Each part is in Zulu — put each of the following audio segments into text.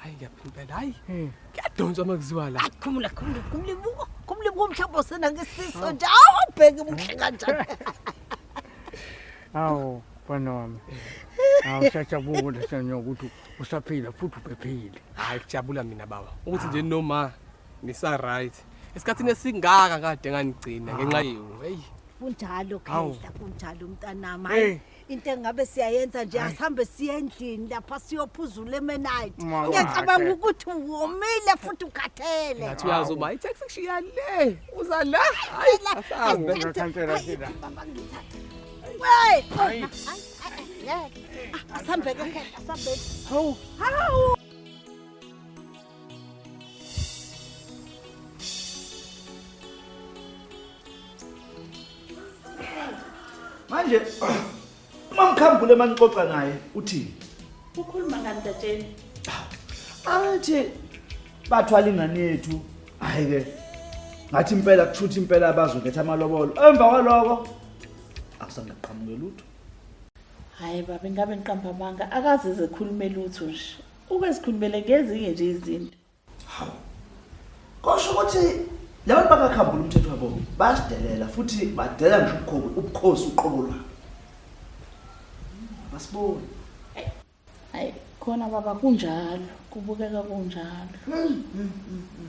hayi ngiyaphi impela hayi kuyadonswa uma kuziwa la khumula khumula khumula ibuko khumula ibuko mhlawumbe osenangisiso nje awubheke muhle kanjani awu mfana wami awusajabula sanya ukuthi usaphila futhi uphephile hayi kujabula mina baba ukuthi nje noma ngisa right esikhathini esingaka kade nganigcina ngenxa yenu heyi kunjalo khehla kunjalo mntanami hayi into engabe siyayenza nje asihambe siye endlini lapha siyophuzula emenayiti Mwa- ngiyacabanga Mwa- ukuthi womile futhi ukhathele ngathi uyazi uba itaxi kushiya le uza la hayi asahambe Ngiyakhankela thina. Hayi. asihambeke asihambe hawu hawu manje uma mkhambule manixoxa naye uthini ukhuluma ngani tatsheni athi bathwala ingane yethu hayi ke ngathi impela kuthutha impela abazokhetha amalobolo emva kwaloko akusangaqhamuke lutho hayi baba ingabe ngiqamba amanga akaze zekhulume lutho nje Uke sikhulumele ngezinye nje izinto. Hawu. Kosho ukuthi laba bakakhambula umthetho wabo basidelela futhi badela ngisho ubukhobi ubukhosi uqobo lwabo. Basibona. Hayi khona baba kunjalo kubukeka kunjalo. Hmm, hmm, hmm,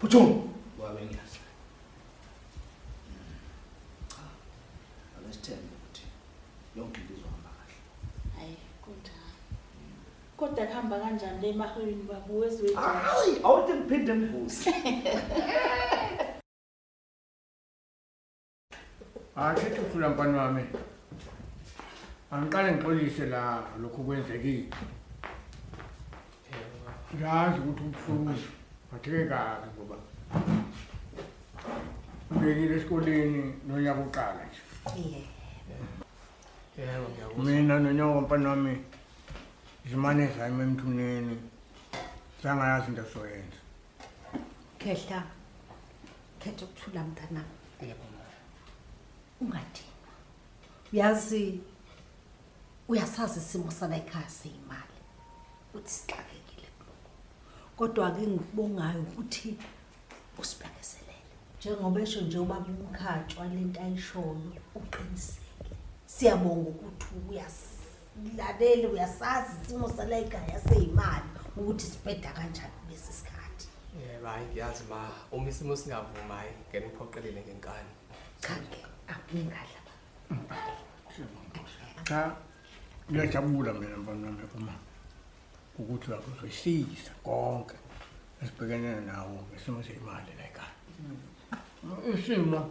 Phuthuma. Wabe ngiyazi. Cha. Akasithembe ukuthi yonke into izohamba kahle. Hayi, kunjani? Kodwa kuhamba kanjani le mahwini babu wezwe? Hayi, awuthi ngiphinde ngivuze. Hayi shithi uthula mfana wami. Angiqale ngixolise la lokho kwenzekile. Ngiyazi ukuthi ubuhlungu batheke kabi ngoba ubekile esikoleni nonyaka uqala nje. Yebo ngiyakuzwa. Mina nonyaka mfana wami zimane zayima emthuneni. Sangayazi into soyenza. Khehla. khetha ukuthula mntanami ungadinwa uyazi uyasazi isimo sala ekhaya seyimali ukuthi sixakekile kuloko kodwa-ke ngikubongayo ukuthi usibekezelele njengoba esho nje ubaba umkhatshwa le nto ayishoyo uqinisile siyabonga ukuthi uyazi Ngilalele uyasazi isimo salayikhaya seyimali ukuthi sibheda kanjani kulesi sikhathi. Yebo hayi ngiyazi ma uma isimo singavumi hayi ngeke ngiphoqelele ngenkani. Cha ke akungadla. Cha ngiyajabula mina mfana wami uma ukuthi uyakuzehlisa konke esibhekene nawo ngesimo seyimali layikhaya. Isimo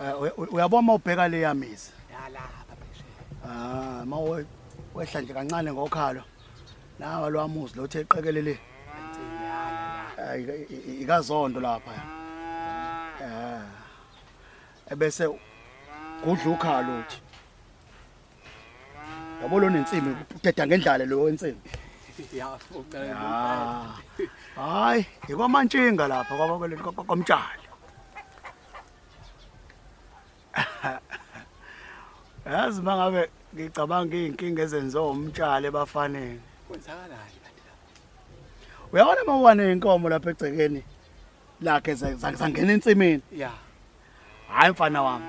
Eh, uyabona uma ubheka le yamizi yalapha phesheya ah uma wehla nje kancane ngokhalo nawa lo amuzi lo uthe qekelele ikazondo lapha eh ebese kudla ukhalo uthi yabo lo nensimbi uthetha ngendlala lo wensimbi hayi ikwamantshinga lapha kwabakweleni kwamtshali yazi uma ngabe ngicabanga iy'nkinga ezenziwa umtshali ebafaneni kwenzakalani kanti lapho uyabona uma uwane inkomo lapha egcekeni lakhe za- za- zangena ensimini ya hhayi mfana wami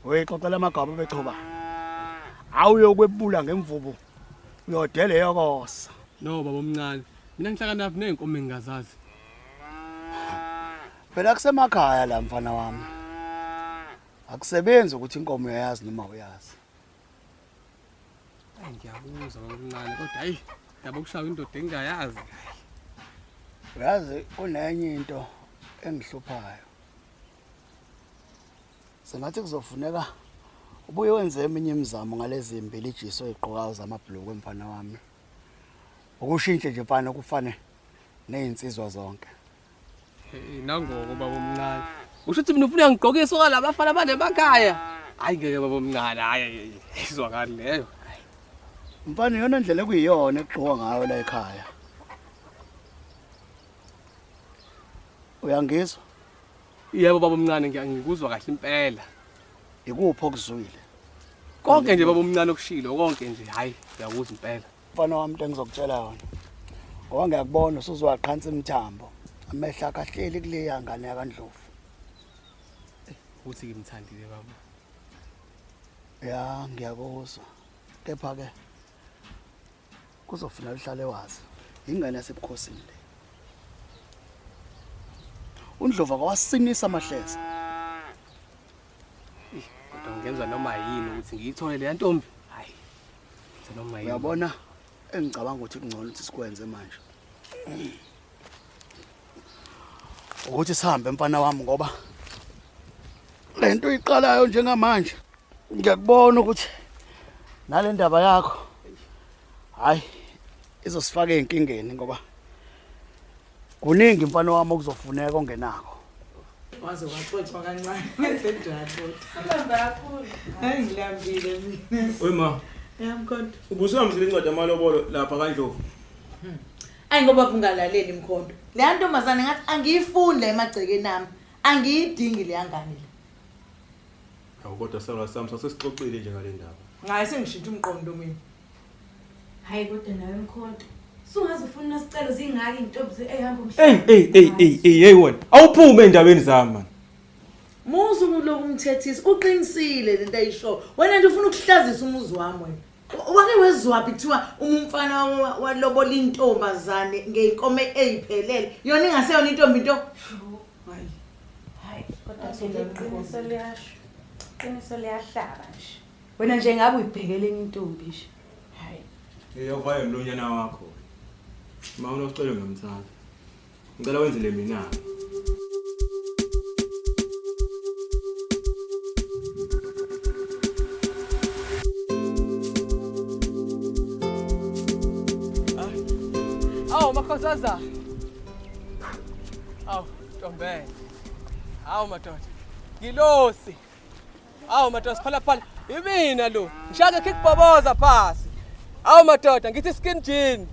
uyixoxela amagaba bechoba hhawu uyokwebula ngemvubu uyodele yokosa no baba omncane mina ngihlakanaphi ney'nkomo engingazazi Phela kusemakhaya la mfana wami. Akusebenzi ukuthi inkomo uyayazi noma uyazi. Ay ngiyakuzwa ngokuncane kodwa ayi yabo kushaya indoda engayazi. Uyazi kunenye into engihluphayo. Sengathi kuzofuneka ubuye wenze eminye imizamo ngalezi mbili ijiso eziqokayo zamabhuluku emfana wami. ukushintshe nje mfana kufane nezinsizwa zonke inangoko baba omncane usho ukuthi mina ufuna ngigqokise okalabo bafana banemakhaya hayi ngeke baba omncane hayi izwakali leyo mfana iyona ndlela ekuyiyona ekugqoka ngayo la ekhaya uyangizwa yebo baba omncane ngiyangikuzwa kahle impela ikuphi okuzwile konke nje baba omncane okushilo konke nje hayi ngiyakuzwa impela mfana wami into engizokutshela yona ngoba ngiyakubona usuzwaqhansa imthambo amehla akahleli kuleya ngane yakandlovu ukuthi ngimthandile baba ya ngiyakuzwa kepha-ke kuzofuneka uhlale wazi ingane yasebukhosini le undlovu akawasinisa amahleza kodwa ngenza noma yini ukuthi ngiyithole leya ntombi uyabona engicabanga ukuthi kungcono ukuthi sikwenze manje ukuthi sihambe mfana wami ngoba lento iqalayo njengamanje ngiyakubona ukuthi nale ndaba yakho hayi izosifaka ezinkingeni ngoba Kuningi mfana wami okuzofuneka ongenako. Waze waxoxwa kancane ngesenjalo. Sibamba kakhulu. Hayi ngilambile mina. Oy ma. Yami kodwa. Ubusihambisile incwadi amalobolo lapha kaNdlovu. Hmm. Ayi ngoba kungalaleli mkhonto. Leya ntombazane ngathi angiyifuni la emagcekeni ami. Angiyidingi leya ngane le. Hawu kodwa sala sami sasesixoxile nje ngalendaba. Ngaye sengishintsha umqondo mina. Hayi kodwa nawe mkhonto. Sungaze ufuna nasicelo zingaki intombi ehamba umhlaba. Ey ey ey ey ey hey wena. Awuphume endaweni zami man. Muzu kuloku mthethisi uqinisile lento ayisho. Wena nje ufuna ukuhlazisa umuzi wami wena. Wake wezwaphi kuthiwa umfana walobola intombazane ngeyinkomo eyiphelele. Yona ingaseyona intombi into. Hayi. Hayi kodwa sele iqiniso liyasho. Iqiniso liyahlaba nje. Wena nje ngabe uyibhekele enye intombi nje. Hayi. Eyovayo lonyana wakho. Uma unocelo ngamthanda. Ngicela wenzele mina. Awu makhozaza. Awu ntombela. Awu madoda. Ngilosi. Awu madoda siphala phala. Imina lo. Ngishaka kickboboza phasi. Awu madoda ngithi skin jean.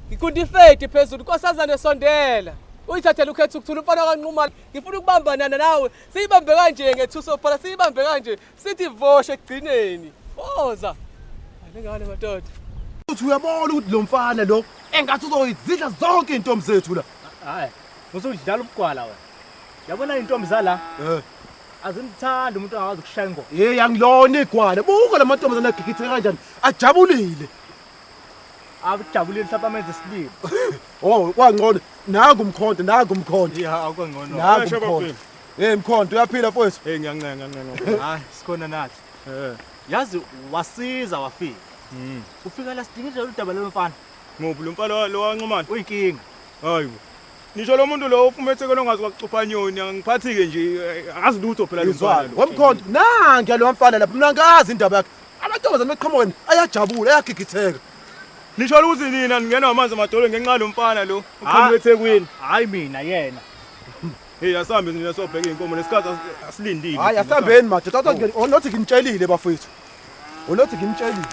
Ngikundi fade phezulu nkosazane sondela. Uyithathela ukhetha ukuthula umfana kanquma. Ngifuna ukubamba nana nawe. Siyibambe kanje ngethuso phala siyibambe kanje. Sithi voshe ekugcineni. Boza. Alengane madoda. Uthi uyabona ukuthi lo mfana lo engathi uzoyizidla zonke intombi zethu la. Hayi. Usudlala ubugwala wena. Yabona intombi zala? Eh. Azimthandi umuntu angawazi ukushaya ingoma. Hey yangilona igwala. Buka lamantombazane agigithe kanjani. Ajabulile. Akujabulile mhlawumbe amenze isilimo. Oh, kwangcono. Naku umkhonto, naku umkhonto. Yeah, akwangcono. Naku umkhonto. Hey mkhonto, uyaphila mfowethu? Hey ngiyancenga, ngiyancenga. Hayi, sikhona nathi. Eh. Yazi wasiza wafika. Mhm. Ufika la sidinga nje udaba lomfana. Ngobu lomfana lo wanqumana. Uyinkinga. Hayibo. Ngisho lo muntu lo ufumethekelwe ngazi kwakucupha nyoni angiphathi-ke nje eh, angazi lutho phela lomfana lo. wemkhonto nangiya lo mfana lapha mina ngazi indaba yakhe amantombazane beqhamuka mina ayajabula ayagigitheka Nisho ukuthi nina ningenwa amanzi amadolo ngenxa yalo mfana lo uqhamuka eThekwini. hayi mina yena Hey asambe nina sobheka inkomo lesikhathi as- asilindile. hayi asambeni madoda Kodwa nje- oh, nothi nginitshelile bafowethu Ulothi ngimtshelile.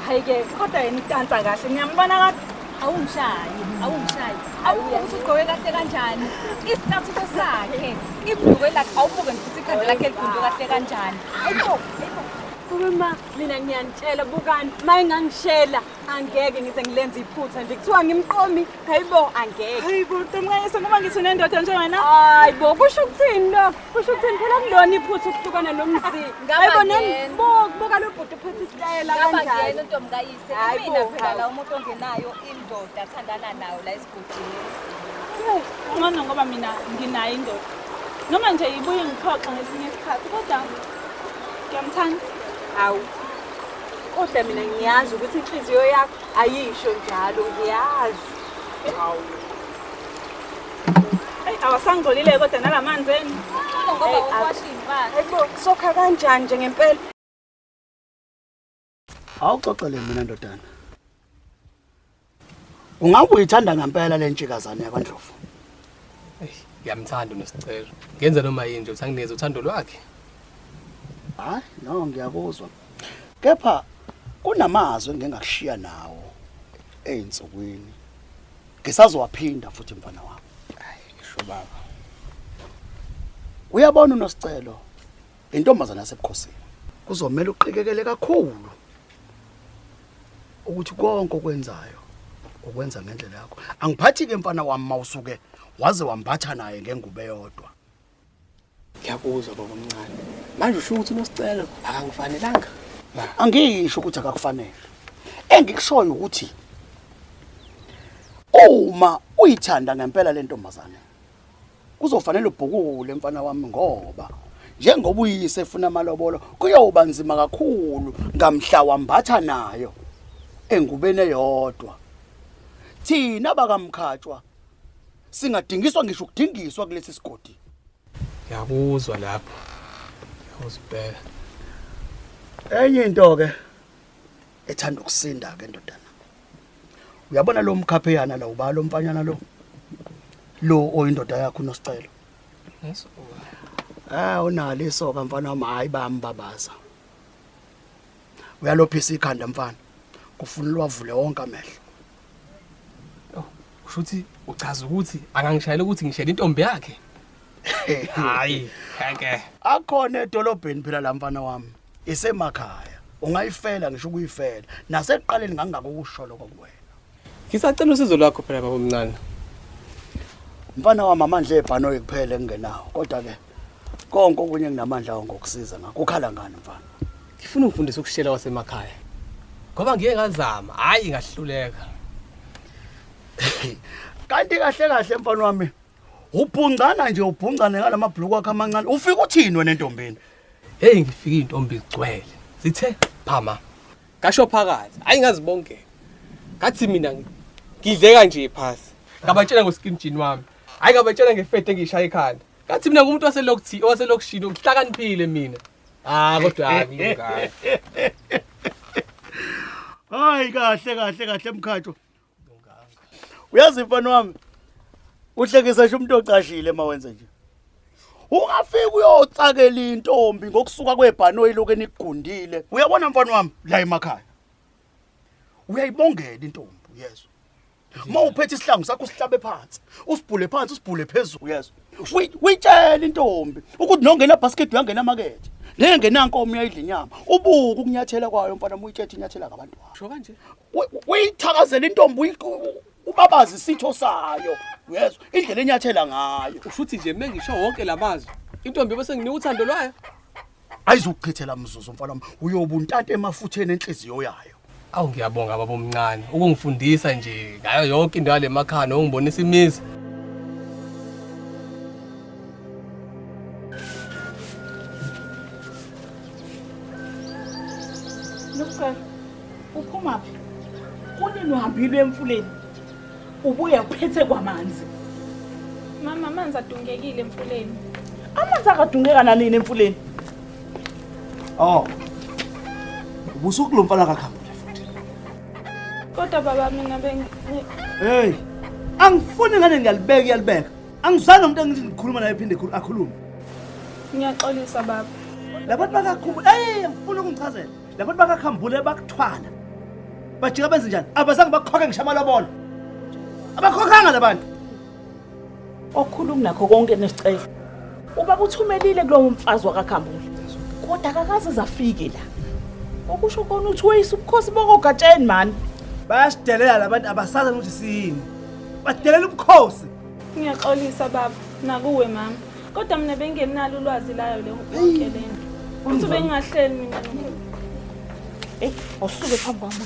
Hayi ke kodwa yena idansa kahle ngiyambona kahle. Awungishayi, awungishayi. Awubuke ukuthi ugqoke kahle kanjani. Isithathuko sakhe, ibhulukwe lakhe awubuke nje ukuthi ikhanda lakhe ligunde kahle kanjani. Ayikho, ayikho. Uma mina ngiyanitshela bukani uma engangishela angeke ngize ngilenze iphutha nje kuthiwa ngimqomi hayibo angeke. Hayibo ntomkayise ngoba ngithi unendoda njengana. Hayibo kusho ukuthini lokho? Kusho ukuthini phela kulona iphutha ukuhlukana nomzi. Hayibo nembuka lo bhuti uphethe isitayela kanjani. Ngaba ngiyena untombi kayise. Mina phela la umuntu ongenayo indoda athandana nayo la esigodini. Ngcono ngoba mina nginayo indoda. Noma nje ibuye ngiphoxe ngesinye isikhathi kodwa ngiyamthanda. Hawu. Kodwa mina ngiyazi ukuthi inhliziyo yakho ayisho njalo ngiyazi. Hawu. awasangcolile kodwa nalamanzi enu sokha kanjani nje ngempela awuxoxele mina ndodana ungabe uyithanda ngempela le ntshikazane yakwandlovu ngiyamthanda unosicelo ngenza noma yini nje uthi anginikeze uthando lwakhe hayi no ngiyakuzwa kepha kunamazwi engingakushiya nawo ey'nsukwini ngisazowaphinda futhi mfana wami ngisho baba uyabona unosicelo intombazana yasebukhosini kuzomela uqikekele kakhulu ukuthi konke okwenzayo ukwenza ngendlela yakho angiphathi ke mfana wami mawusuke waze wamphatha naye ngengubo eyodwa Ngiyakuzwa baba omncane. Manje usho ukuthi unosicelo akangifanelanga. Angisho ukuthi akakufanele. Engikushoyo ukuthi uma uyithanda ngempela le ntombazane kuzofanele ubhukule mfana wami ngoba njengoba uyise efuna amalobolo kuyoba nzima kakhulu ngamhla wambatha nayo engubeni eyodwa thina bakamkhatshwa singadingiswa ngisho ukudingiswa kulesi sigodi ngiyakuzwa lapho ngiyakuzibheka enye into ke ethanda ukusinda ke ndodana uyabona lo mkhapheyana la ubalo mfanyana lo lo oyindoda yakho unosicelo yes ah unalo isoka mfana wami hayi bambabaza uyalophisa ikhanda mfana kufuna uwavule wonke amehlo kusho ukuthi uchaza ukuthi akangishayela ukuthi ngishela intombi yakhe hayi ngeke akhona edolobheni phela la mfana wami isemakhaya ungayifela ngisho ukuyifela nasekuqaleni ngangako ukusholo kokuwena ngisacela usizo lwakho phela baba omncane mfana wami amandla ebhanoyi kuphela engingenawo kodwa ke konke okunye enginamandla awo ngokusiza ngakho ukhala ngani mfana ngifuna ukufundisa ukushela wasemakhaya ngoba ngike ngazama hhayi ngahluleka kanti kahle kahle mfana wami ubhungcana nje ubhungcane ngala mabhuluku akhe amancane ufika uthini wena entombini heyi ngifike iy'ntombi zigcwele zithe phama ngasho phakathi hhayi ngazibongela ngathi mina ngidleka nje phasi ngabatshela ngoskim jini wami hhayi ngabatshela ngefede engiyishaya ekhanda Ngathi mina ngumuntu waselokthi owaselokishini ngihlakaniphile mina. Ah kodwa ngingaka. Hayi kahle kahle kahle mkhatho. Uyazi mfana wami uhlekisa nje umuntu ocashile mawenze nje. Ungafika uyotsakela intombi ngokusuka kwebhanoyi lokho enigundile. Uyabona mfana wami la emakhaya. uyayibongela intombi uyezwa uma uphethe isihlangu sakho usihlabe phansi usibhule phansi usibhule phezulu uyezwa uyitshela intombi ukuthi nongena basket uyangena makethe ngeke ngenankomo uyayidla inyama ubuke ukunyathela kwayo mfana uyitshethe inyathela ngabantu sho kanje uyithakazela intombi ubabazi isitho sayo uyezwa indlela enyathela ngayo ushuthi nje mengisho wonke lamazwi intombi bese nginika uthando lwayo ayizukuchithela mzuzu mfana wami uyoba untanta emafutheni enhliziyo yayo awu ngiyabonga baba omncane ukungifundisa nje ngayo yonke into yale makhaya nokungibonisa imizi Luqe, uphumaphi? Kunini uhambile emfuleni? Ubuye uphethe kwamanzi. Mama amanzi adungekile emfuleni. Amanzi akadungeka nanini emfuleni. Oh. Ubusuku lomfana kakhambule futhi. Kodwa baba mina bengi Hey. Angifuni ngane ngiyalibeka iyalibeka. Angizange umuntu engithi ngikhuluma naye phinde khulu akhulume. Ngiyaxolisa baba. Labantu bakakhulu. Hey, angifuni ukungichazela. labantu bakakhambule bakuthwala bajika benze njani abazange bakhokhe ngisho amalobolo abakhokhanga labantu okhulu kunakho konke nesicelo ubaba uthumelile kulowo mfazi wakakhambule kodwa akakaze zafike la okusho kona uthi weyisa ubukhosi bokogatsheni mani bayasidelela labantu abasazi ukuthi siyini badelela ubukhosi ngiyaxolisa baba nakuwe mama kodwa mina bengenalo ulwazi layo le yonke le nto futhi bengingahleli mina eyi awusuke phambi kwami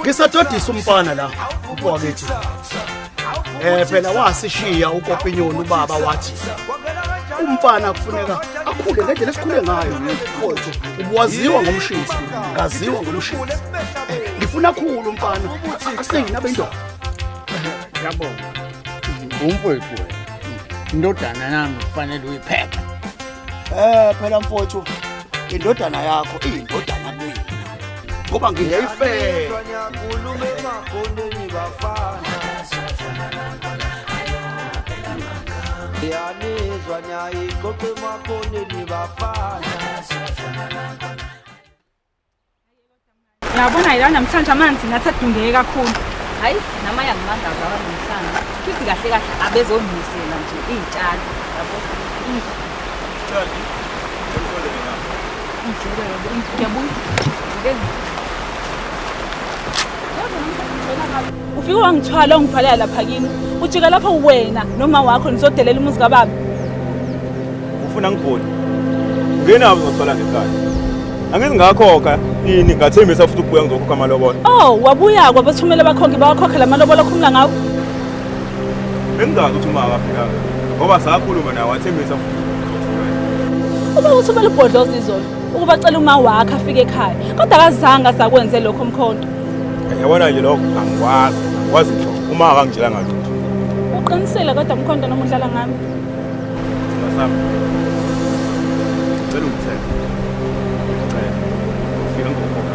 ngisadodisa umfana la upokethi eh phela wasishiya ukopinyoni ubaba wathi umfana kufuneka akhule ngendlela esikhule ngayo mfowethu ubuwaziwa ngomshisi ngaziwa ngomshisi ngifuna khulu umfana akuseyina bendoda yabonga umfowethu wena indodana nami kufanele uyiphephe eh phela mfowethu indodana yakho iyindodana ngoba ngingeyifela yanizwa nyayiqoqa emakhoneni bafana yabona yila namhlanje amanzi ngathi adungeke kakhulu hayi nama yangimangaza abanamhlanje futhi kahle kahle abezondisela nje iy'tshalo yabo ufike wangithwala ungivalela lapha kini ujika lapho wena noma wakho nizodelela umuzi kababa ufuna ngibhoni ngena uzothola ngekhaya angithi ngakhokha ini ngathembisa futhi ukubuya ngizokhokha amalobolo oh wabuya kwabathumela bakhokhe bawakhokhe la malobolo okhumula ngawo bengingazi ukuthi uma akafikanga ngoba sakhuluma naye wathembisa uma ukuthi umele ubhodloza izolo ukuba cela uma wakhe afike ekhaya kodwa akazange asakwenze lokho mkhonto yabona nje lokho angikwazi kwazi nto uma akangitshela ngathi uqinisile kodwa mkhonto noma udlala ngami ngasami cela ungithenge cela ufike ngokhona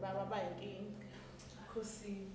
baba bayinkinga khosini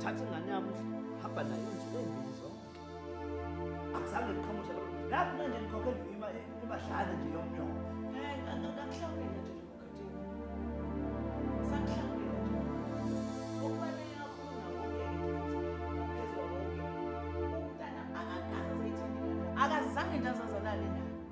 thatha ingane yami hamba nayo insuku ezimbili zonke akuzange ngiqhamushe lokho lapho manje ngikhokhela imadlana nje yomnyoko ngakuhlawulela nje akazange into azazalale nayo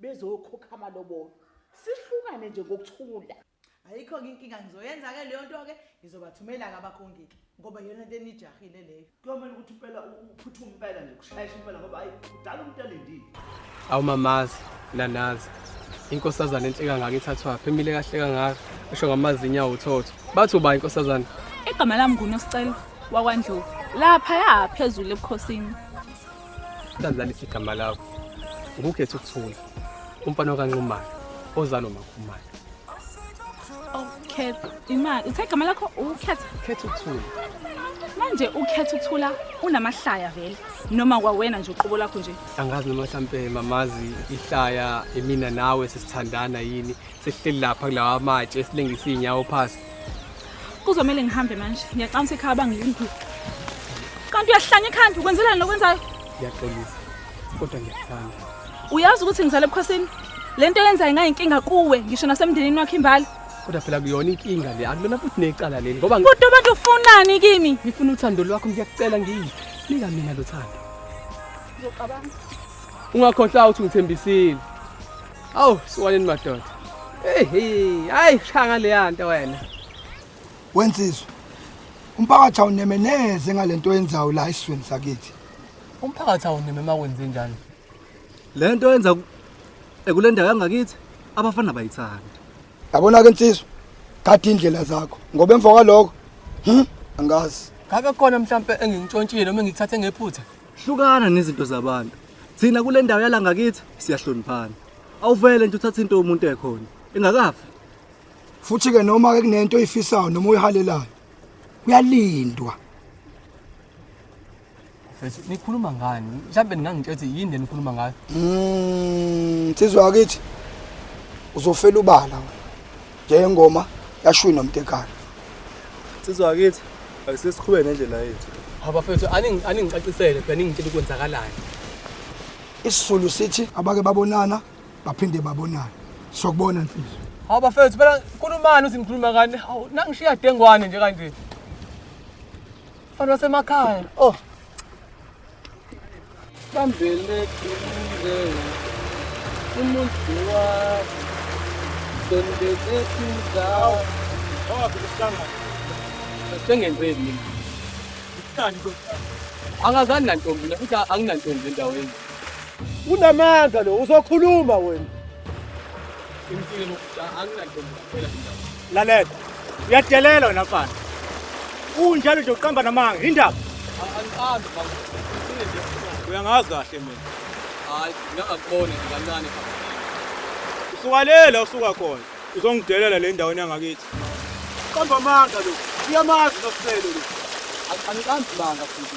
bezoyokhokha amalobolo sihlukane nje ngokuthula ayikho ke inkinga ngizoyenza ke leyo nto ke ngizobathumela ke abakhongiki ngoba yona into enijahile leyo kuyomele ukuthi impela uphuthume impela nje kushayisha impela ngoba hayi udala umuntu alindile awumamazi nanazi inkosazana enhle kangaka ithathwaphi emile kahle kangaka usho ngamazinyo awuthotho bathi uba inkosazana igama lami ngunosicelo wakwandlovu laphaya phezulu ebukhosini Sadlalisa igama lakho ngukhetha ukuthula umfana okanxumana ozalo makhumana ukhetha imali uthe igama lakho ukhetha khetha ukuthula manje ukhetha ukuthula unamahlaya vele noma kwawena nje uqobo lakho nje angazi noma mhlampe mamazi ihlaya imina nawe sesithandana yini Sihleli lapha kulawa matshe esilengisa izinyawo phasi. Kuzomele ngihambe manje. Ngiyaqanisa ekhaya bangilindile. Kanti uyahlanya ekhanda ukwenzelani lokwenzayo? Ngiyaxolisa. Kodwa ngiyakuthanda. Uyazi ukuthi ngizale ebukhosini? Lento yenzayo ingayinkinga kuwe ngisho nasemndenini wakhe imbala. Kodwa phela kuyona inkinga le. Akulona futhi necala leli ngoba Kodwa abantu ufunani kimi? ngifuna uthando lwakho ngiyakucela ngiyi. Nika mina lo thando. Ngiyocabanga. Ungakhohlwa ukuthi ngithembisile. Awu siwaneni madoda. Hey hey, hayi shanga leya nto wena. Wensizwe. Umphakathi awuneme neze ngalento oyenzayo la isizweni sakithi. Umphakathi awuneme uma kwenze njani? Lento yenza ekulendayo yangakithi abafana bayithanda. Yabona ke insizwa, gada indlela zakho ngoba emva kwaloko hm angazi. Ngake khona mhlambe engingitshontshile noma engithathe ngephutha. hlukana nezinto zabantu thina kule ndawo yala ngakithi siyahloniphana awuvele nje uthathe into yomuntu ekhona engakafi futhi ke noma ke kunento oyifisayo noma oyihalelayo kuyalindwa Mfethu nikhuluma ngani? Mhlambe ningangitshela ukuthi yini le nikhuluma ngayo? Mm, sizwa kithi. Uzofela ubala wena. Nje ngoma yashuyi nomtekana. Sizwa kithi akusesikhube nendlela yethu. Abafethu aningi aningicacisele phela ningitshela ukwenzakalani. Isizulu sithi abake babonana baphinde babonana. Sokubona mfisi. Hawu bafethu phela khulumani uthi nikhuluma kani? Hawu nangishiya dengwane nje kanje. Abantu basemakhaya. Oh. bambeleke umndeni umuntu wakho sondezeki indawo sengenzeni mina angazani nantombi mina futhi anginantombi endaweni unamandla lo uzokhuluma wena lalela uyadelela wena mfana unjalo nje uqamba namanga indaba uyangazi kahle mina hayi ngingakuboni kancane usuka lela usuka khona uzongidelela le ndaweni yangakithi qamba amanga lo uyamazi noselo lo angiqambi manga futhi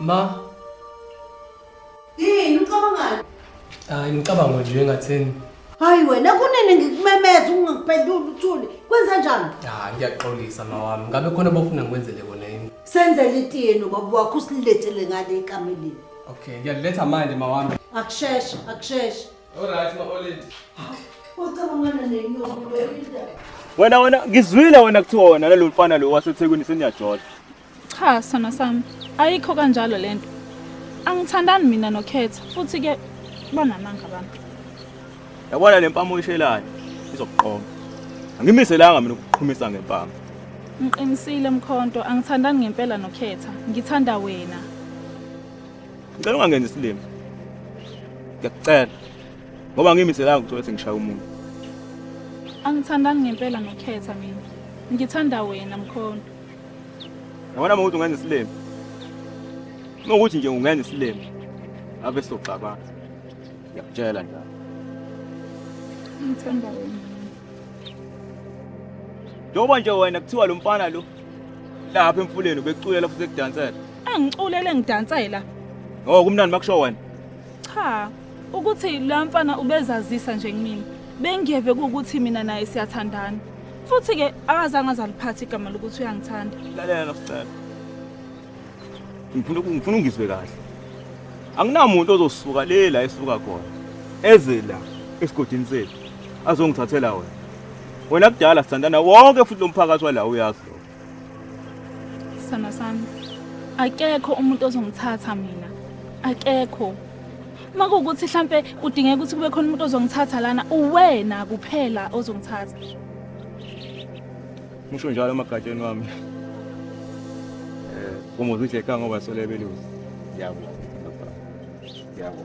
Ma. Yini ucabangani? Hayi ngicabanga nje engatheni. Hayi wena kunini ngikumemeza ungangiphenduli uthule. Kwenza njani? Hayi ngiyaxolisa mawami. Ngabe khona bofuna ngikwenzele kona yini? Senzele itiyeni baba wakho usilethele ngale ekameleni. Okay, ngiyaletha manje mawami. Akusheshe, akusheshe. Alright ma Olid. Wacabangana nenyoka Belinda. Wena wena ngizwile wena kuthiwa wena nalo mfana lo waseThekwini seniyajola. Cha sona sami ayikho kanjalo lento. Angithandani mina noKhetha futhi ke banamanga abantu. Yabona le mpama oyishelayo izokuqoma. Angimiselanga mina ukuqhumisa ngempama. Ngiqinisile mkhonto angithandani ngempela noKhetha ngithanda wena. Ngicela ungangenzi isilima. Ngiyakucela. Ngoba ngimiselanga ukuthi uthi ngishaya umuntu. Angithandani ngempela nokhetha mina. Ngithanda wena mkhonto. Yabona mawuthi ungenza isilima. Uma ukuthi nje ungenza isilima. Ave soxabana. Ngiyakutshela njalo. Ngithanda wena. Njengoba nje wena kuthiwa lo mfana lo lapha emfuleni ubekuculela futhi ekudansela engiculele ngidansela oh kumnandi makusho wena cha ukuthi la mfana ubezazisa nje kumina bengiyeve ukuthi mina naye siyathandana futhi ke akazange azaliphatha igama lokuthi uyangithanda lalela sicela ngifuna ngifuna ungizwe kahle anginamuntu ozosuka le la esuka khona eze la esigodini sethu azongithathela wena wena kudala sithandana wonke futhi lo mphakathi wala uyazi lo sana sami akekho umuntu ozongithatha mina akekho uma kuwukuthi hlampe kudingeka ukuthi kube khona umuntu ozongithatha lana uwena kuphela ozongithatha Musho njalo emagatsheni wami. Eh, uma uzithi ekhaya ngoba sole beluzi. Yabo. Yabo.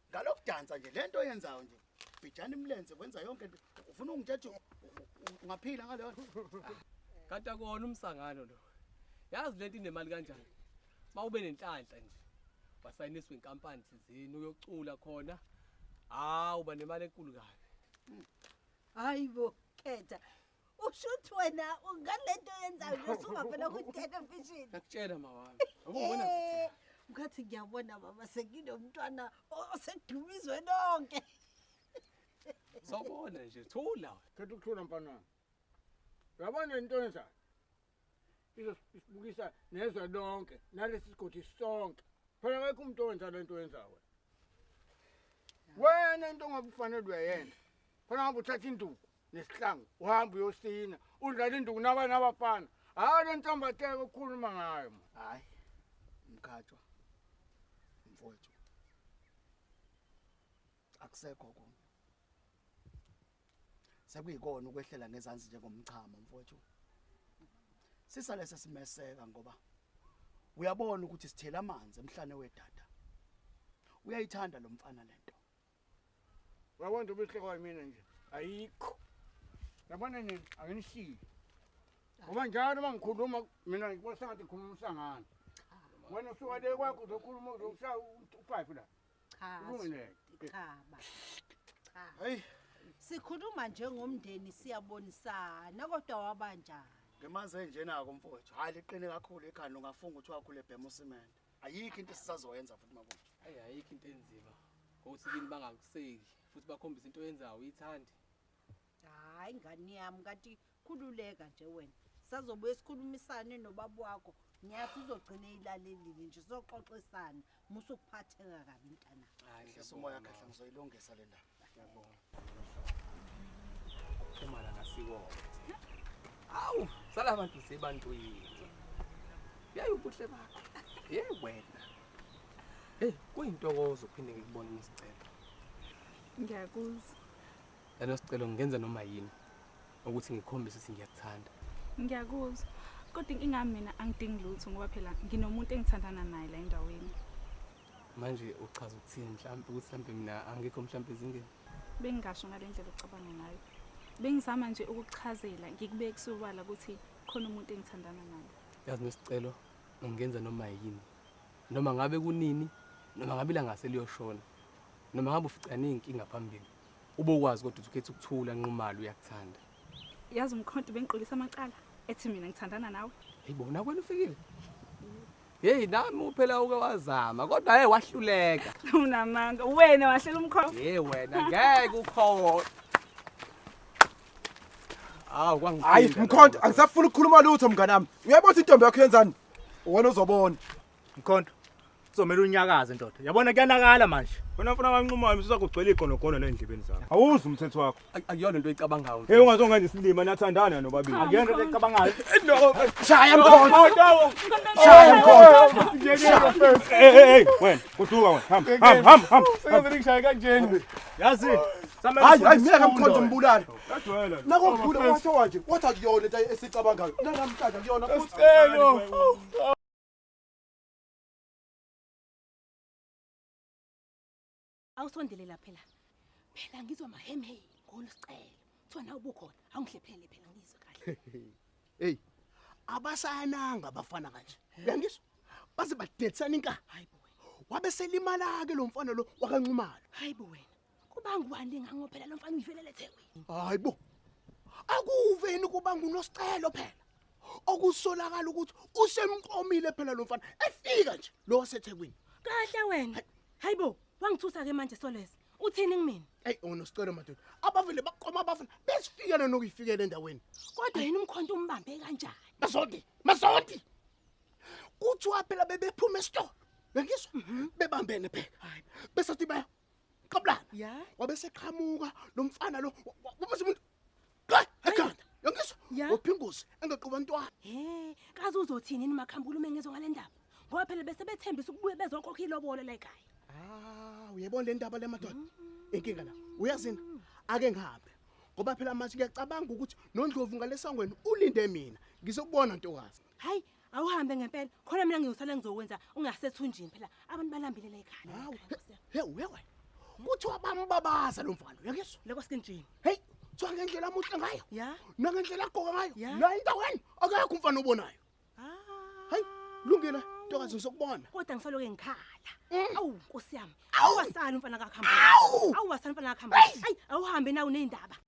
ngalokudansa nje lento oyenzayo nje bijana imlenze wenza yonke into ufuna ungithethe ungaphila ngaleyo kanti akona umsangano lo yazi lento inemali kanjani mawube nenhlanhla nje wasayiniswa inkampani thizini uyocula khona hawu banemali enkulu kabi hayibo khetha Ushuthi wena ungalento yenzayo nje usungavela ku television. Ngakutshela mawami. Akubona Eh, Ngathi ngiyabona baba senginomntwana o- osedumizwe lonke. Sawubona nje. Thula. Khetha ukuthula mfana wami. Uyabona into enzayo. izosibukisa nezwe lonke nalesi sigodi sonke phela akekho umuntu owenza le nto oyenza wena wena into ongabe ufanele uyayenza khona ngabe uthatha induku nesihlangu uhamba uyosina udlala induku nabanye abafana hhayi le ntambateka okhuluma ngayo ma hhayi mkhatshwa mfowethu akusekho konke sekuyikona ukwehlela ngezansi njengomchamo mfowethu sisale sesimeseka ngoba uyabona ukuthi sithela amanzi emhlane wedada uyayithanda lo mfana lento uyabona nje ubuhle kwayo mina nje ayikho yabona nini anginishiyi ngoba njalo uma ngikhuluma mina ngikubona sengathi ngikhuluma umsangano wena usuka le kwakho uzokhuluma uzokushaya u-five la Cha. Cha. Cha. Hey. Sikhuluma njengomndeni siyabonisana kodwa wabanjani? Ngemanzi enjena ko mfowethu. Hayi liqine kakhulu ekhanda ungafunga ukuthi wakhule bhema usimende. Ayikho into esisazoyenza futhi makuthi. Hayi ayikho into enzima. Ngokuthi kini bangakuseki futhi bakhombisa into oyenzayo uyithandi. Hayi ngani yami kanti Khululeka nje wena sazobuye sikhulumisane nobaba wakho ngiyazi uzogcina eyilalelile nje sizoxoxisana musa ukuphatheka kabi mntana hayi nhlisa umoya khahla ngizoyilungisa le ndaba ngiyabonga umala ngasikona awu sala abantu sebantwini yayi ubuhle bakho ye wena eyi kuyintokozo uphinde ngikubone ngisicela ngiyakuzwa Lelo sicelo ngenze noma yini ukuthi ngikhombise ukuthi ngiyakuthanda. Ngiyakuzwa. Kodwa inkinga mina angidingi lutho ngoba phela nginomuntu engithandana naye la endaweni. Manje uchaza ukuthini mhlawumbe ukuthi mhlawumbe mina angikho mhlawumbe ezingeni? Bengingasho ngale ndlela ocabanga ngayo. Bengizama nje ukukuchazela ngikubeke kusobala ukuthi khona umuntu engithandana naye. Yazi nesicelo ngingenza noma yini. Noma ngabe kunini noma ngabe ilanga seliyoshona. Noma ngabe uficane inkinga phambili. Ubokwazi kodwa ukhetha ukuthula nqumalo uyakuthanda. Yazi umkhonto bengiqolisa amacala ethi mina ngithandana nawe. Hey bona kwena ufikile. Hey nami uphela uke wazama kodwa hey wahluleka. Unamanga wena wahlela umkhonto. Hey wena ngeke ukhona. Awu kwangiqinda. Hayi mkhonto angisafuni ukukhuluma lutho mnganami. Uyabona intombi yakho yenzani? Wena uzobona. Mkhonto, uzomela unyakaze ndoda. Yabona kuyanakala manje. Wena mfana kanquma wami usakugcwele iqonogono lendlebeni zakho. Awuzwa umthetho wakho. Ay- Akuyona into oyicabangayo. Hey ungazongenza isilima nathandana nobabili. Akuyona into ecabangayo. Shaya mkhonto. Shaya mkhonto. Hey hey hey wena kuduka wena. Hamba hamba hamba hamba. Sengaze ngishaye kanjena. Yazi. Samela Hayi hayi mina ufunde kamkhonto ufunde. mbulala. Yadwela. Nakokugula washo wathi wathi akuyona into esicabangayo. Nakamhlanje akuyona futhi. Usicelo. Awusondele la phela. Phela ngizwa mahemhe ngolusicelo. Kuthiwa nawe bukhona. Awungihlephele phela ngizwe kahle. Hey. Abasayananga abafana kanje. Uyangizwa? Baze badetsana inka. Hayibo wena. Wabe selimala ke lo mfana lo wakanxumalo. Hayibo wena. Kuba ngubani ngango phela lo mfana uyivelele eThekwini. Hayibo. Akuveni kuba ngunosicelo phela. Okusolakala ukuthi usemqomile phela lo mfana efika nje lo waseThekwini. Kahle wena. Hayibo, wangithusa ke manje Soleza. Uthini kumina? Hey unosicelo madoda. Abavele baqoma abafana besifikele nokuyifikela endaweni. Kodwa yini umkhonto umbambe kanjani? Masodi, masodi. Kuthiwa phela bebephuma esitolo. Bengizwa bebambene phela. Hayi. Besathi baya Qabulana. Ya. Wabe seqhamuka lo mfana lo. Wabe umuntu. Qha, ekhanda. Yongizwa? Ya. Uphinguzi engequba ntwana. He, kaze uzothini nima khambula uma ngezwe ngalendaba. Ngoba phela bese bethembisa ukubuye bezokhokha ilobolo la ekhaya. Ah, uyebona le ndaba le madoda. Inkinga la. Uyazini? Ake ngihambe. Ngoba phela manje ngiyacabanga ukuthi nondlovu ngalesangweni ulinde mina. Ngizokubona ntokazi. Hayi awuhambe ngempela khona mina ngiyosala ngizokwenza ungasethunjini phela abantu balambile la ekhaya. Hawu. Hey wewe. Kuthiwa bambabaza lo mfana uyakuzwa? Leko skinjini. Hey kuthiwa ngendlela amuhle ngayo. Ya. Nangendlela agqoka ngayo. Ya. La indaweni akekho umfana obonayo. Ah. Hayi lungile ntokazi ngisokubona. Kodwa ngisaloke ngikhala. Mm. Awu nkosi yami. Awasali umfana kakhamba. Awu wasali umfana kakhamba. Hayi awuhambe nawe nezindaba.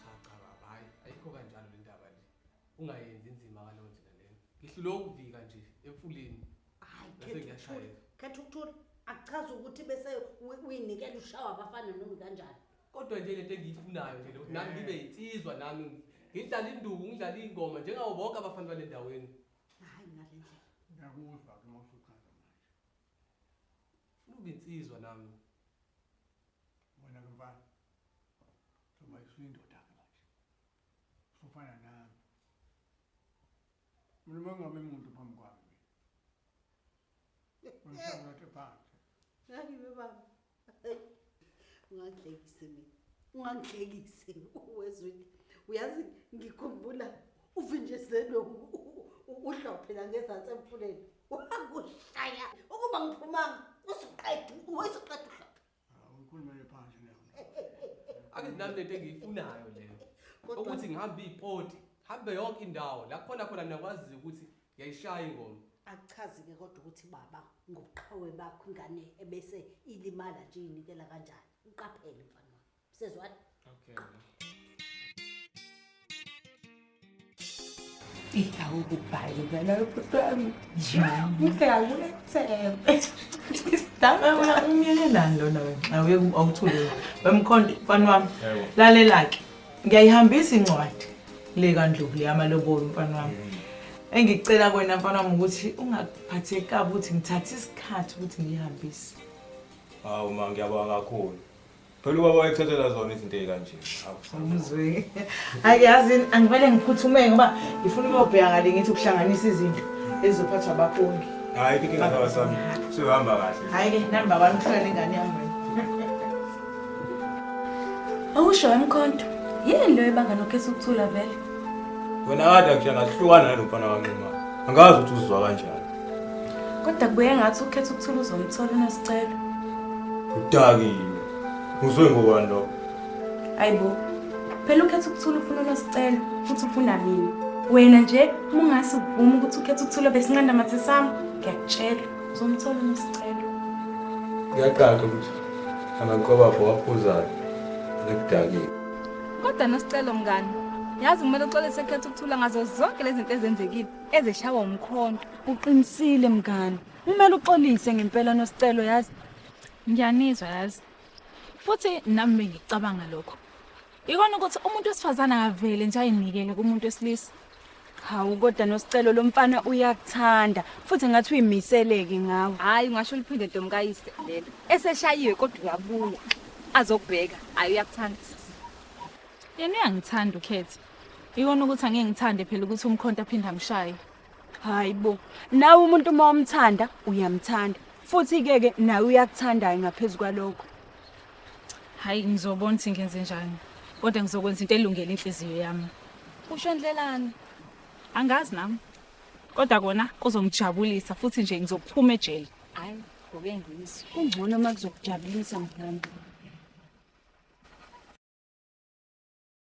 Cha cha baba hayi ayikho kanjalo le ndaba nje. Ungayenzi inzima ngaleyo ndlela leyo. Ngihlule ukuvika nje emfuleni. Hayi Bese khetha ukuthula. ngiyashayeka. Khetha ukuthula. Akuchazi ukuthi bese uyi- uyinikela ushawa abafana noma kanjani. Kodwa nje lento engiyifunayo nje lokuthi nami ngibe yinsizwa nami ngidlala induku ngidlala ingoma njengawo bonke abafana balendaweni. Hayi ngale ndlela. Ngiyakuzwa ke mawusuchaza manje. Ngifuna ukuba insizwa nami. Wena ke mfana. Thoma isifuna indoda ke manje. Ufana nami. Mina mangame umuntu phambi kwami. Ngishaya ngathi phansi. Ngibe baba. ungangihlekisi mina ungangihlekisi wezwini uyazi ngikhumbula uvinjezelwe uhlobo phela ngezansi emfuleni wakushaya ukuba ngiphumanga usuqeda usuqeda uhlobo awukhulumele phansi leyo ake nami lento engiyifunayo leyo ukuthi ngihambe ipoti hambe yonke indawo la khona khona niyakwazi ukuthi Yayishaya ingoma. Akuchazi ke kodwa ukuthi baba ngobuqhawe bakho ingane ebese ilimala nje inikela kanjani. Uqaphele mfana wami. Sezwani? Okay. Ihawu kubhayi vela yokutwami. Ngikhawu etsebe. Dame wena umyelelani lona wena? Awuye awuthule. Bemkhonde mfana wami. Lalela ke. ngiyayihambisa incwadi le kandlovu le yamalobolo mfana wami engicela kwena mfana wami ukuthi ungaphatheki kabi ukuthi ngithathe isikhathi ukuthi ngiyihambise hawu ma ngiyabonga kakhulu phela ubaba wayekuthathela zona izinto ey'kanje umzwe hayi yazini angivele ngiphuthume ngoba ngifuna ukuyobheka ngale ngithi ukuhlanganisa izinto ezizophathwa abafundi hayi kike ngasaba sami siyohamba kahle hayi ke namba kwami kuhlala ingane yami Awusho emkhonto. Yini leyo ebanga nokhesa ukuthula vele? Wena kade ngisha ngahlukana nalo mfana wanquma. Angazi ukuthi uzizwa kanjani. Kodwa kubuye ngathi ukhetha ukuthula uzomthola unesicelo. Udakile. Uzwe ngobani lokho? Ayibo. Phela ukhetha ukuthula ufuna unesicelo futhi ufuna mina. Wena nje uma ungase uvume ukuthi ukhetha ukuthula besinqanda mathe sami, ngiyakutshela. Uzomthola unesicelo. Kuyacaca ukuthi amanqobapho waphuzayo nekudakile. Kodwa nosicelo mngani. Yazi kumele uxolise ekhetha ukuthula ngazo zonke lezi zinto ezenzekile ezeshawa umkhonto. Uqinisile mngani. Kumele uxolise ngempela nosicelo yazi. Ngiyanizwa yazi. Futhi nami bengicabanga lokho. Ikona ukuthi umuntu wesifazane akavele nje ayinikele kumuntu wesilisa. Hawu kodwa nosicelo lomfana uyakuthanda futhi ngathi uyimiseleke ngawe. Hayi ungasho uliphinde domkayise lelo. Eseshayiwe kodwa uyabuya. Azokubheka. Hayi uyakuthanda. Yena uyangithanda ukhethe. Ikona ukuthi angeke ngithande phela ukuthi umkhonto aphinde amshaye. Hayi bo, nawe umuntu uma umthanda uyamthanda futhi ke ke nawe uyakuthandayo ngaphezu kwalokho. Hayi ngizobona ukuthi ngenze njani. Kodwa ngizokwenza into elungele inhliziyo yami. Usho ndlelani? Angazi nami. Kodwa kona kuzongijabulisa futhi nje ngizophuma ejele. Hayi, ngoke ngiyizwe. Kungcono uma kuzokujabulisa mkhulu.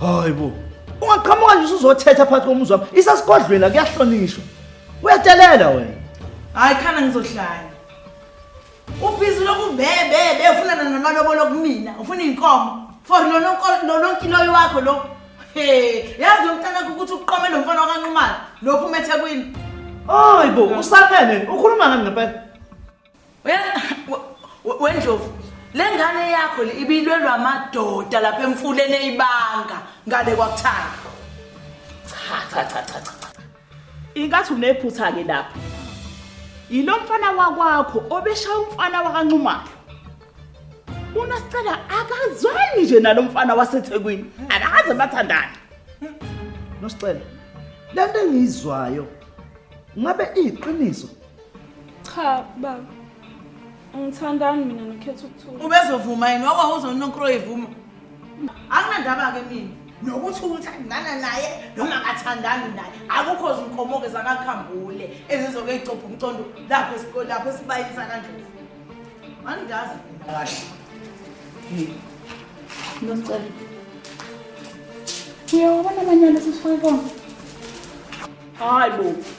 hayi bo ungaqhamuka nje usuzothetha phakathi komuzi wami isasigodlweni la kuyahlonishwa uyadelela wena hayi khana ngizohlanya ubhizi lokubebebe ufunana namalobolo kumina ufuna iy'nkomo for lononkiloyi wakho lo he yazi lo mntanakho ukuthi uqome lo mfana wakanqumana lokhu umethekwini hayi bo usamele ukhuluma ngani ngempela wendlovu le ngane yakho le ibilwelwa amadoda lapha emfuleni eyibanga ngale kwakuthanda cha cha cha cha cha ingathi unephutha ke lapha yilo mfana wakwakho obeshaya umfana wakancumayo unasicela akazwani nje nalo mfana wasethekwini akaze bathandane nosicela lento engiyizwayo ngabe iyiqiniso Cha baba. Ngithandani mina nokhetha ukuthula. Ubezovuma yini wawa uzononkro evuma. Anginandaba ke mina. Nokuthi uthandana naye noma akathandani naye akukho zinkomoke zakakhambule ezizoke igcopha umcondo lapho esikole lapho esibayeni sakandlovu. Angidazi kahle. Ngicela. Uyawabona amanyala sesifike konke. Hayi bo.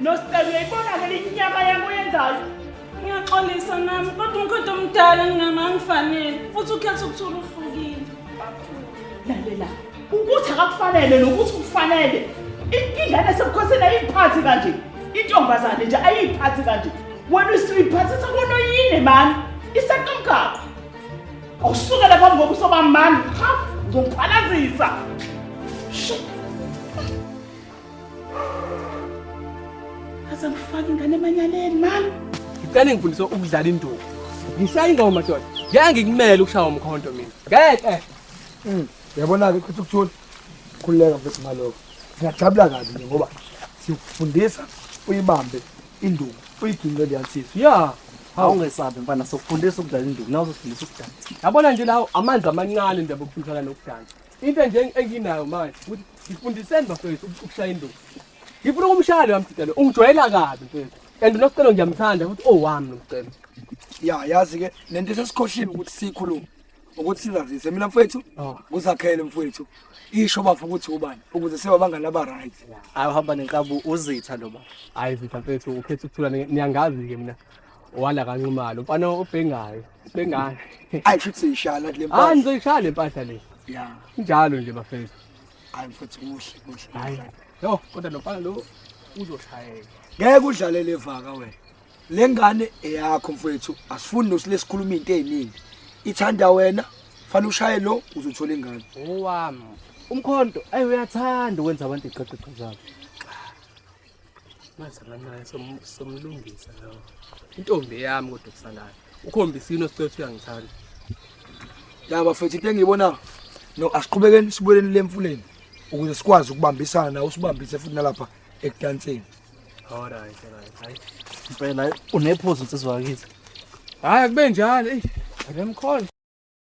Nostel uyayibona ke linyaka yami oyenzayo. Ngiyaxolisa nami kodwa umkhonto omdala ngingama ngifanele futhi ukhetha ukuthula uhlukile. Lalela. Ukuthi akakufanele nokuthi ukufanele. Inkinga esebukhosini ayiphathi kanje. Intombazane nje ayiphathi kanje. Wena usiphathisa kono yini mani? Iseqomgaqo. Awusuke lapha ngobuso bamani. Ha, ngizokuphalazisa. Shit. Aze ngifake ingane emanyaleni mama. Ngicela ngifundise ukudlala induku. Ngishaya ingoma madoda. Ngeke ngikumele ukushaya umkhonto mina. Ngeke. Mm. Yabona ke kuthi ukuthula. Khululeka mfethu ngaloko. Singajabula kabi nje ngoba sikufundisa uyibambe induku uyiginqe liyansizwa. Yeah. awungesabi mfana sokufundisa ukudlala induku nawe uzofundisa ukudansa yabona nje lawo amanzi amancane nje bokufundisana nokudansa into nje enginayo manje ukuthi ngifundiseni bafethu ukushaya induku ngifuna ukumshaya loya mcelo ungijwayela kabi mfethu and nokucelo ngiyamthanda futhi owami oh, nomcelo ya yazi-ke nento sesikhoshile ukuthi siyikhulume ukuthi sizazise mina mfowethu oh. kuzakhele mfowethu isho bafo ukuthi ubani ukuze siba bangani aba-right ayi uhamba nenkabu uzitha lo baba hayi zitha mfethu ukhetha ukuthula niyangazi-ke mina Wala kanxumalo. Mfana obhengayo. Bengane. Ayi futhi seyishaya le mpahla. Hayi ngizoyishaya le mpahla le. Yeah. Njalo nje bafethu. Hayi futhi kuhle kuhle. Hayi. Yo kodwa lo mfana lo uzoshayeka. Ngeke udlale le vaka wena. Le ngane eyakho mfethu asifuni nosilesikhuluma into eziningi. Ithanda wena fanele ushaye lo uzothola ingane. Owami. Umkhonto ayi uyathanda ukwenza abantu iqeqeqo zabo. Manje nganaye somlungisa lawo. Intombi yami kodwa kusalayo. Ukhombisini osicela ukuthi uyangithanda. Ya bafethu into engiyibona no asiqhubekeni sibuyeleni lemfuleni ukuze sikwazi ukubambisana nawe usibambise futhi nalapha ekudanseni. All right, all right. Hayi. Impela unephuzu nsizwa kithi. Hayi akube njalo. Ey, akemkhona.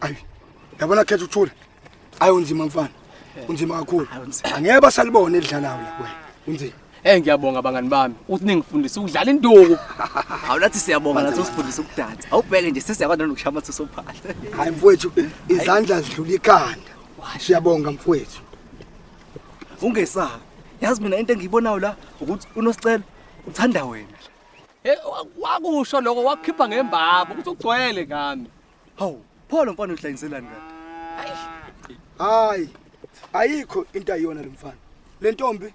Ayi. Yabona khetha uthule. Ayi unzima mfana. Unzima kakhulu. Angeke basalibone edlalayo la kuwena. Unzima. Eh ngiyabonga bangani bami uthi ningifundisa ukudlala induku. Hawu nathi siyabonga nathi usifundisa ukudansa. Awubheke nje sesiyakwazi nokushaya amathu sophala. Hayi mfowethu izandla zidlula ikhanda. Siyabonga mfowethu. Ungesabi. Yazi mina into engiyibonayo la ukuthi unosicelo uthanda wena. Eh wakusho lokho wakukhipha ngembaba ukuthi ugcwele ngami. Hawu, pho lo mfana udlayiselani kanti? Hayi. Ayikho into ayiyona lo mfana. Le ntombi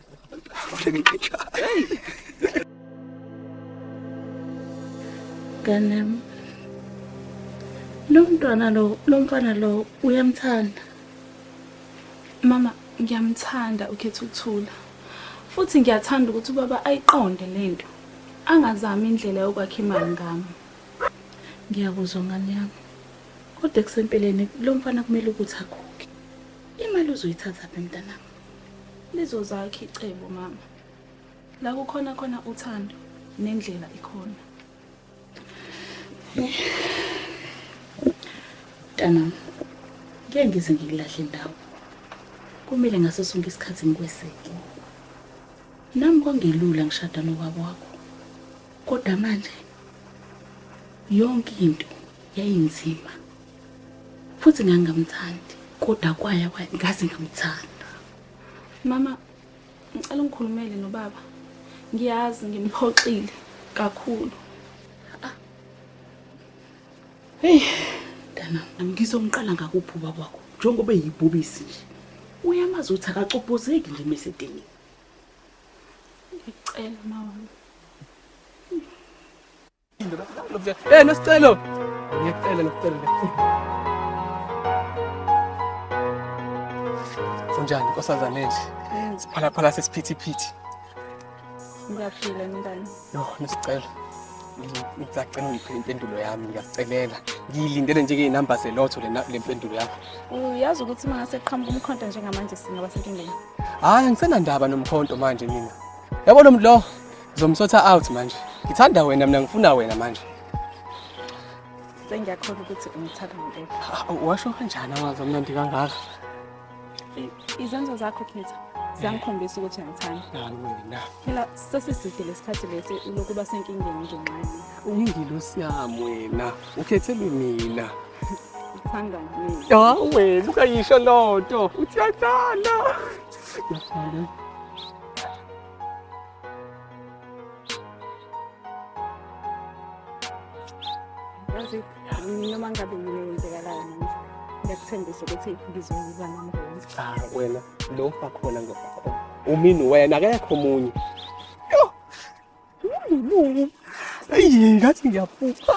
Ganem. Lo mntwana lo, lo mfana lo uyamthanda. Mama, ngiyamthanda ukhetha ukuthula. Futhi ngiyathanda ukuthi ubaba ayiqonde lento. Angazami indlela yokwakha imali ngami. Ngiyakuzwa ngane yami. Kodwa ekusempeleni lo mfana kumele ukuthi akhokhe. Imali uzoyithatha phi mntanami? lizozakha icebo mama la kukhona khona uthando nendlela ikhona mntana ngeke ngize ngikulahle ndawo kumele ngaso sonke isikhathi ngikweseke nami kwangelula ngishada nobaba wakho kodwa manje yonke into yayinzima futhi ngangingamthandi kodwa kwaya ngaze ngamthanda mama ngicela ungikhulumele nobaba ngiyazi ngimphoxile kakhulu ah. hey dana ngizomqala ngakubhuba kwakho njengoba eyibhubisi nje uyamazi ukuthi akacobhozeki nje mesedeni ngicela mama Eh nosicelo. Ngiyacela nosicelo. Unjani nkosazana enje? Siphalaphala sesiphithiphithi. Ngiyaphila ngingani? Yo nosicelo. Ngisacela ungiphe impendulo yami ngiyacelela. Ngiyilindele nje ke inamba zelotho le le mpendulo yakho. Uyazi ukuthi uma ngase qhamuka umkhonto njengamanje singaba senkingeni. Hayi ngisenandaba nomkhonto manje mina. Yabo lo mdlo Zomsotha out manje. Ngithanda wena mina ngifuna wena manje. Sengiyakholwa ukuthi ungithanda ngeke. Ah, Washo kanjani amazi amnandi kangaka? Izenzo zakho Khetha ziyangikhombisa ukuthi uyangithanda. Hayi wena. Phela sesiside lesikhathi lesi ulokuba senkingeni ngenxanye. Uyingilosi yami wena. Ukhethelwe mina. Ngithanda mina. Ya wena ukayisho lonto. Uthiyadala. Ngiyakhala. yazi noma ngabe yini eyenzekalayo manje ngiyakuthembisa ukuthi ngizoyiba nomndeni ah wena lo ufa khona ngokhona umini wena akekho omunye Lulu. Eyi ngathi ngiyaphupha.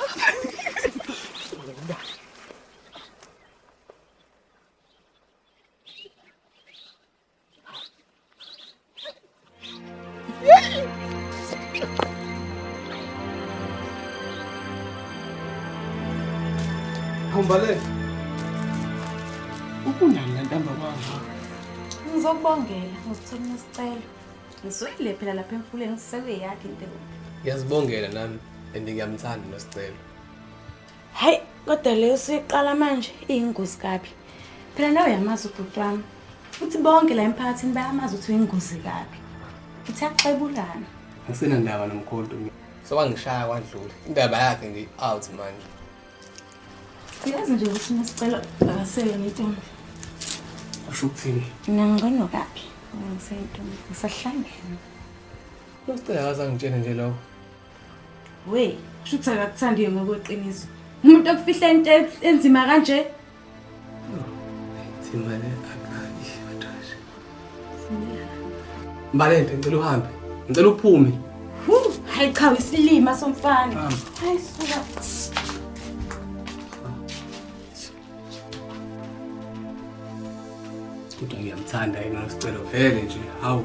Hambale. Ukunani la ntamba kwakho? Ngizokubongela, ngizithola nesicelo. Ngizwile phela lapha emfuleni ngisebe yakhe into. Ngiyazibongela nami and ngiyamthanda nosicelo. hayi kodwa leyo siqala manje iyingozi kabi phela nawe uyamazi ubhuti wami futhi bonke la emphakathini bayamazi ukuthi uyingozi kabi futhi axebulana ngisenandaba nomkhonto sewangishaya kwadlula indaba yakhe nje out manje uyazi nje ukuthi nesicelo akasele ngentombi usho ukuthini mina ngcono kabi ngisentombi ngisahlangene losicela akazangitshene nje lokho Wey, kusho ukuthi akakuthandi-ke ngokweqiniso. Umuntu okufihla into enzima kanje. Simane akayi batashe. Mbalente ngicela uhambe. Ngicela uphume. Hayi cha isilima somfana. Hayi suka. Kodwa ngiyamthanda yena sicelo vele nje. Hawu.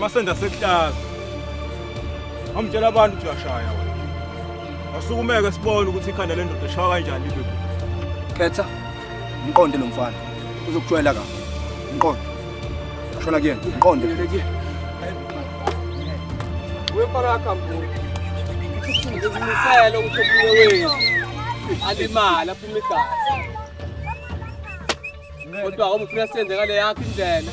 Masenda sekuhlaza. Amtshela abantu ukuthi uyashaya wena. Asukumeke sibone ukuthi ikhanda lendoda eshawa kanjani ibe. Khetha mqonde lo mfana. Uzokujwayela kahle. Mqonde. Shona kuyena. Mqonde. Wefana kambulo. Ngizimisele ukuthi omunye wenu alimala aphume igazi. Kodwa awumfuna senze ngale yakho indlela.